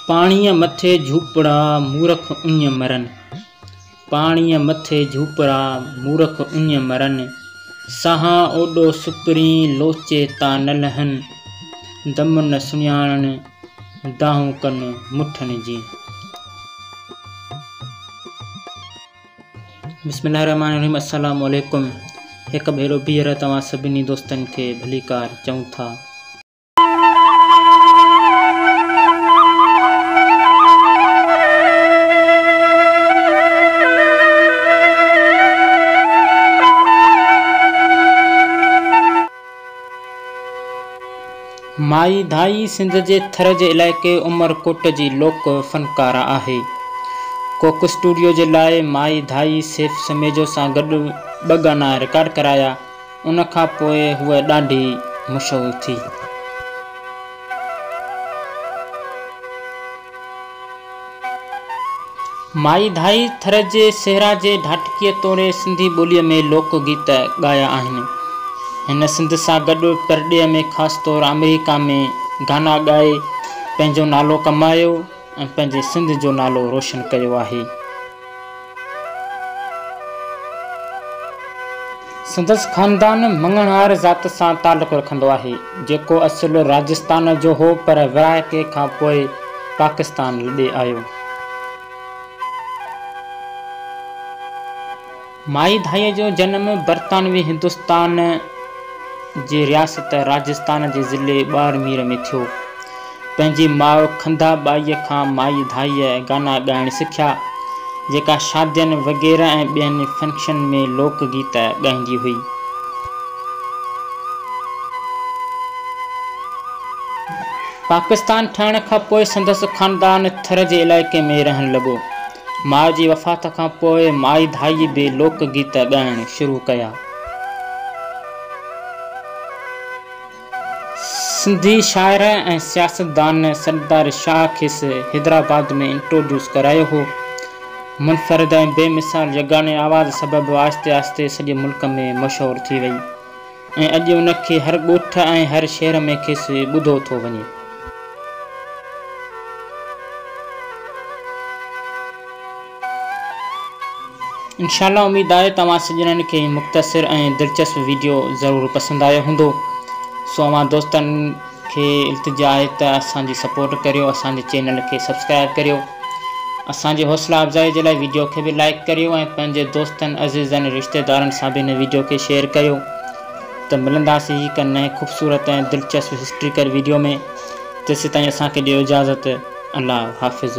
پاڻيء مٿي جهوپڙا مورک اڃ مرن. پاڻيء مٿي جهوپڙا مورک اڃ مرن. ساهان اوڏو سپرين لوچي تا نه لهن. دم نه سڃاڻن دانهون ڪن مٺن جي. بسم الله الرحمٰن الرحيم السلام عليڪم هڪ ڀيرو ٻيهر توهان سڀني دوستن کي ڀليڪار چئون ٿا. مائي ڌائي سنڌ جي ٿر جي علائقي عمر ڪوٽ جي لوڪ فنڪاره آهي. ڪوڪ اسٽوڊيو جي لاء مائي ڌائي سيف سميجو سان گڏ ٻه گانا رڪارڊ ڪرايا، ان کان پوء هوء ڏاڍي مشهور ٿي. مائي ڌائي ٿر جي صحرا جي ڍاٽڪيء توڙي سنڌي ٻوليء ۾ لوڪ گيت ڳايا آهن. هن سنڌ سان گڏ پرڏيهه ۾ خاص طور آمريڪا ۾ گانا ڳائي پنهنجو نالو ڪمايو ۽ پنهنجي سنڌ جو نالو روشن ڪيو آهي. سندس خاندان مڱڻهار ذات سان تعلق رکندو آهي، جيڪو اصل راجستان جو هو پر ورهاڪي کان پوء پاڪستان لڏي آيو. مائي ڌائيء جو جنم برطانوي هندستان جي رياست راجستان جي ضلعي ٻارمير ۾ ٿيو. پنهنجي ماء کنڌا ٻائيء کان مائي ڌائيء گانا ڳائڻ سکيا، جيڪا شادين وغيره ۽ ٻين فنڪشن ۾ لوڪ گيت ڳائيندي هئي. پاڪستان ٺهڻ کان پوء سندس خاندان ٿر جي علائقي ۾ رهڻ لڳو. ماء جي وفات کان پوء مائي ڌائيء به لوڪ گيت ڳائڻ شروع ڪيا. سنڌي شاعر ۽ سياستدان سردار شاهه کيس حيدرآباد ۾ انٽروڊيوس ڪرايو هو. منفرد ۽ بي مثال يگاني آواز سبب آهستي آهستي سڄي ملڪ ۾ مشهور ٿي وئي. ۽ اڄ ان کي هر ڳوٺ ۽ هر شهر ۾ کيس ٻڌو ٿو وڃي. انشاء الله اميد آهي توهان سڄڻن کي هي مختصر ۽ دلچسپ ويڊيو ضرور پسند آيو هوندو سو اوهان دوستن کي التجا آهي ته اسان جي سپورٽ ڪريو اسان جي چينل کي سبسڪرائب ڪريو اسان جي حوصلا افزائي جي لاء ويڊيو کي به لائيڪ ڪريو ۽ پنهنجي دوستن عزيزن رشتيدارن سان به هن ويڊيو کي شيئر ڪريو ته ملنداسين هڪ نئين خوبصورت ۽ دلچسپ هسٽريڪل ويڊيو ۾ تيسيتائين اسان کي ڏيو اجازت الله حافظ.